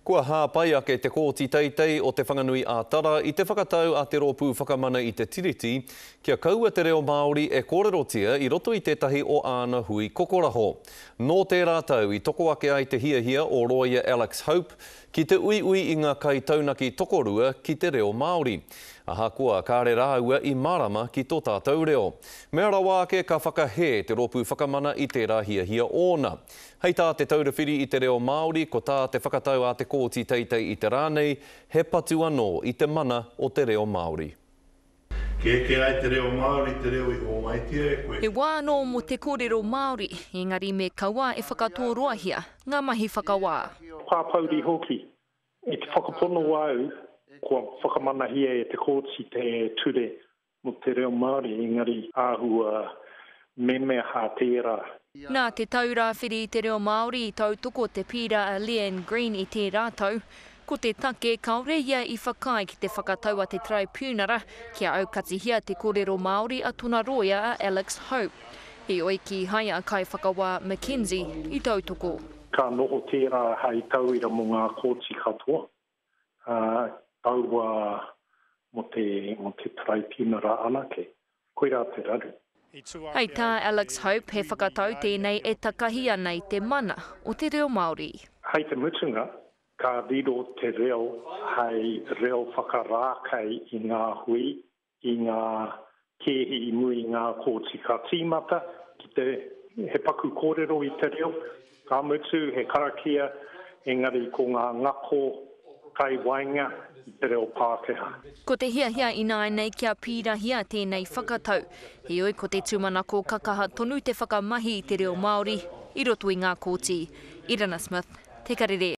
Kua hāpai ake Te Kooti Teitei o Te Whanganui ā Tara i te whakatau a Te Rōpū Whakamana i te Tiriti kia kaua te reo Māori e kōrerotia i roto i tētahi o āna hui kokoraho. Nō tērā tau i toko ake ai te hiahia o Rōia Alex Hope ki te uiui i ngā kaitaunaki tokorua ki te reo Māori. Ahakoa kāre rāua i mārama ki tō tātou reo. Mea rawa ake ka whakahē Te Rōpū Whakamana i tērā hiahia ōna. Hei tā Te Taura Whiri i te Reo Māori, ko tā te whakatau a Te Kooti Teitei i te rā nei, he patu anō i te mana o te reo Māori. Kia eke ai te reo Māori te reo i hōmaitia e koe. He wā anō mō te kōrero Māori, engari me kaua e whakatōroahia ngā mahi whakawā. Pāpouri hoki. I te whakapono au, kua whakamanahia e te Kooti te ture Mo te reo Māori engari āhua memeha tērā. Nā te tau rāwhiri i te reo Māori i tautoko te pīra a Leanne Green i tērā tau. Ko te take, kāore ia i whakaae ki te whakatau a te Taraipiunara kia aukatihia te kōrero Māori a tona rōia a Alex Hope. Heoi, kīhai a Kaiwhakawā McKenzie i tautoko. Ka noho tērā hei tauira mo ngā kōti katoa. ā, kaua mō te, mō te taraipiunara anake. Koirā te raru. Hei tā Alex Hope, he whakatau tēnei e takahi ana i te mana o te reo Māori. Hei te mutunga, ka riro te reo hei reo whakarākei i ngā hui, ki ngā kēhi i muri i ngā kōti ka tīmata ki te, he paku kōrero i te reo, ka mutu he karakia, engari ko ngā ngako kai waenga i te reo Pākehā. Ko te hiahia ināianei kia pīrahia tēnei whakatau, heoi ko te tūmanako ka kaha tonu te whakamahi i te reo Māori i roto i ngā kōti. Irana Smith, Te Karere.